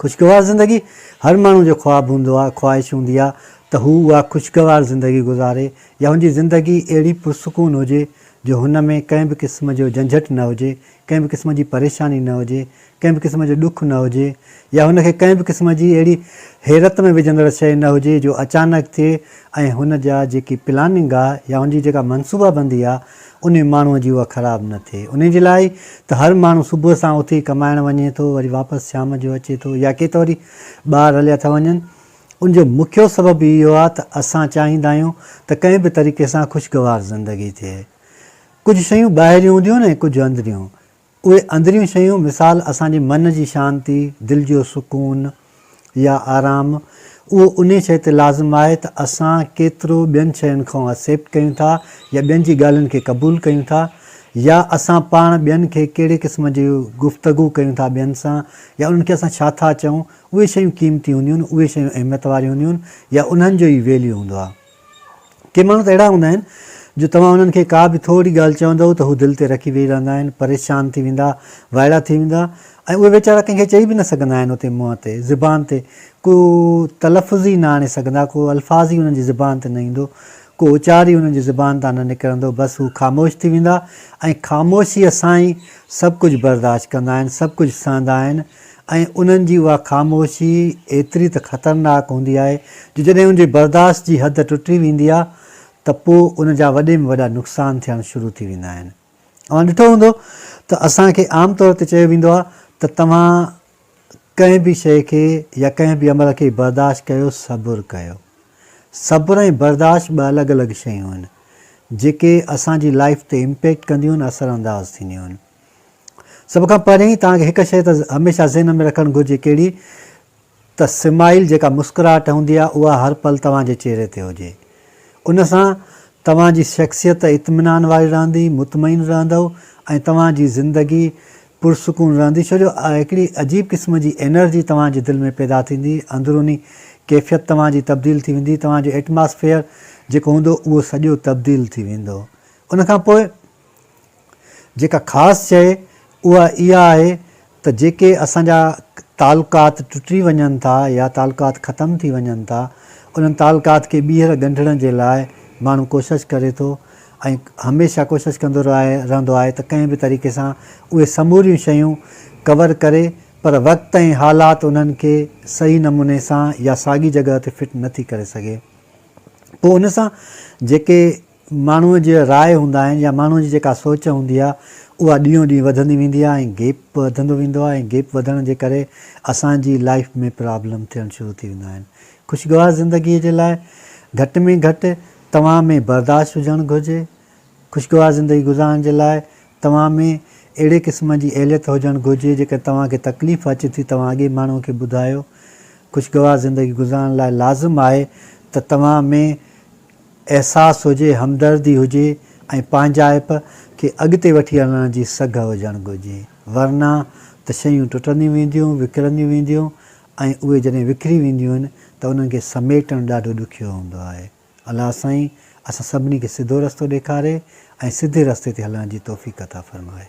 خوشگوار زندگي هر ماڻهو جو خواب هوندو آهي، خواهش هوندي آهي ته هو اها خوشگوار زندگي گذاري يا هن جي زندگي اهڙي پرسڪون هجي جو هن ۾ ڪنهن به قسم جو جنجهٽ نه هجي، ڪنهن به قسم جي پريشاني نه هجي، ڪنهن به قسم جو ڏک نه هجي يا هن کي ڪنهن به قسم جي اهڙي حيرت ۾ وجهندڙ شيء نه هجي جو اچانڪ ٿئي ۽ هن جا جيڪي پلاننگ آهي يا هن جي جيڪا منصوبابندي آهي انهي ماڻهوء جي اها خراب نه ٿئي. انهي جي لاء ئي ته هر ماڻهو صبح سان اٿي ڪمائڻ وڃي ٿو، وري واپس شام جو اچي ٿو يا ڪي ته وري ٻاهر هليا ٿا وڃن. ان جو مکيو سبب ئي اهو آهي ته اسان چاهيندا آهيون ته ڪنهن به طريقي سان خوشگوار زندگي ٿئي. ڪجهه شيون ٻاهريون هونديون آهن ۽ ڪجهه اندريون. اهي اندريون شيون مثال اسان جي من جي شانتي، دل جو سڪون يا آرام، اهو انهي شيء تي لازم آهي ته اسان ڪيترو ٻين شين کان Accept ڪيون ٿا يا ٻين جي ڳالهين کي قبول ڪيون ٿا يا اسان پاڻ ٻين کي ڪهڙي قسم جي گفتگو ڪيون ٿا ٻين سان يا انهن کي اسان ڇا ٿا چئون اهي شيون قيمتي هونديون اهي شيون اهميت واريون هونديون يا انهن جو ئي Value هوندو آهي. ڪي ماڻهو ته اهڙا هوندا آهن جو توهان انهن کي ڪا به ٿورڙي ڳالهه چوندؤ ته هو دل تي رکي ويهي رهندا آهن، پريشان ٿي ويندا، وائڙا ٿي ويندا ۽ اهي ويچارا ڪنهن کي چئي به نه سگهندا آهن اتي منهن تي، زبان تي ڪو تلفظ ئي نه آڻي سگهندا، ڪو الفاظ ئي انهن جي زبان تي نه ايندو، ڪو اچار ئي انهن جي زبان تان نه نڪرندو، بس هو خاموش ٿي ويندا ۽ خاموشيء سان ئي سڀ ڪجهه برداشت ڪندا آهن، سڀ ڪجهه سهندا آهن، ۽ انهن جي اها خاموشي ايتري ته خطرناڪ هوندي آهي جو جڏهن ان جي برداشت جي حد ٽٽي ويندي آهي ته پوء ان جا وڏي ۾ وڏا نقصان ٿيڻ شروع ٿي ويندا آهن. اوهان ڏٺو هوندو ته اسان کي عام طور تي چيو ويندو آهي ته توهان ڪنهن به شيء کي يا ڪنهن به عمل کي برداشت ڪيو، صبر ڪيو. صبر ۽ برداشت ٻه الڳ الڳ شيون آهن جيڪي اسان جي لائيف تي امپيڪٽ ڪنديون آهن، اثر انداز ٿينديون آهن. سڀ کان پهرين توهان کي هڪ شيء ته هميشه ذهن ۾ رکڻ گهرجي ڪهڙي ته سمائيل جيڪا مسڪراهٽ هوندي آهي اها هر پل توهان جي چهري تي هجي ان سان توهان جي شخصيت اطمينان واري رهندي مطمئن رهندؤ ۽ توهان جي زندگي پرسڪون رهندي ڇو جو هڪڙي عجيب قسم جي انرجي توهان جي دل ۾ پيدا ٿيندي اندروني ڪيفيت توهان جي تبديل ٿي ويندي توهان جو ايٽماسفيئر جيڪو هوندو اهو سڄو تبديل ٿي ويندو ان کان پوء جيڪا خاص شيء اها اها آهي ته جيڪي اسان جا تعلقات ٽٽي وڃن ٿا يا تعلقات ختم ٿي وڃن ٿا انهن تعلقات کي ٻيهر ڳنڍڻ جي لاء ماڻهو ڪوشش ڪري ٿو ۽ هميشه ڪوشش ڪندو رهندو آهي ته ڪنهن به طريقي سان اهي سموريون شيون ڪور ڪري پر وقت ۽ حالات انهن کي صحيح نموني سان يا ساڳي جڳهه تي فٽ نه ٿي ڪري سگهي پوء ان سان جيڪي ماڻهوء جي راء هوندا آهن يا ماڻهوء جي جيڪا سوچ هوندي آهي اها ڏينهون ڏينهن وڌندي ويندي آهي ۽ گيپ به وڌندو ويندو آهي ۽ گيپ وڌڻ جي ڪري اسان جي لائيف ۾ پرابلم ٿيڻ شروع ٿي ويندا آهن خوشگوار زندگي جي لاء گهٽ ۾ گهٽ توهان ۾ برداشت هجڻ گهرجي خوشگوار زندگي گذارڻ جي لاء توهان ۾ اهڙي قسم جي اهليت هجڻ گهرجي جيڪڏهن توهان کي تڪليف اچي ٿي توهان اڳئين ماڻهوء کي ٻڌايو خوشگوار زندگي گذارڻ لاء لازم آهي ته توهان ۾ احساس هجي، همدردي هجي ۽ پنهنجائپ کي اڳتي وٺي هلڻ جي سگهه هجڻ گهرجي، ورنه ته شيون ٽٽنديون وينديون، وکرنديون وينديون ۽ اهي جڏهن وکري وينديون آهن ته انهن کي سميٽڻ ڏاڍو ڏکيو هوندو آهي. الله سائين اسان سڀني کي سڌو رستو ڏيکاري ۽ سڌي رستي تي هلڻ جي توفيق عطا فرمائي.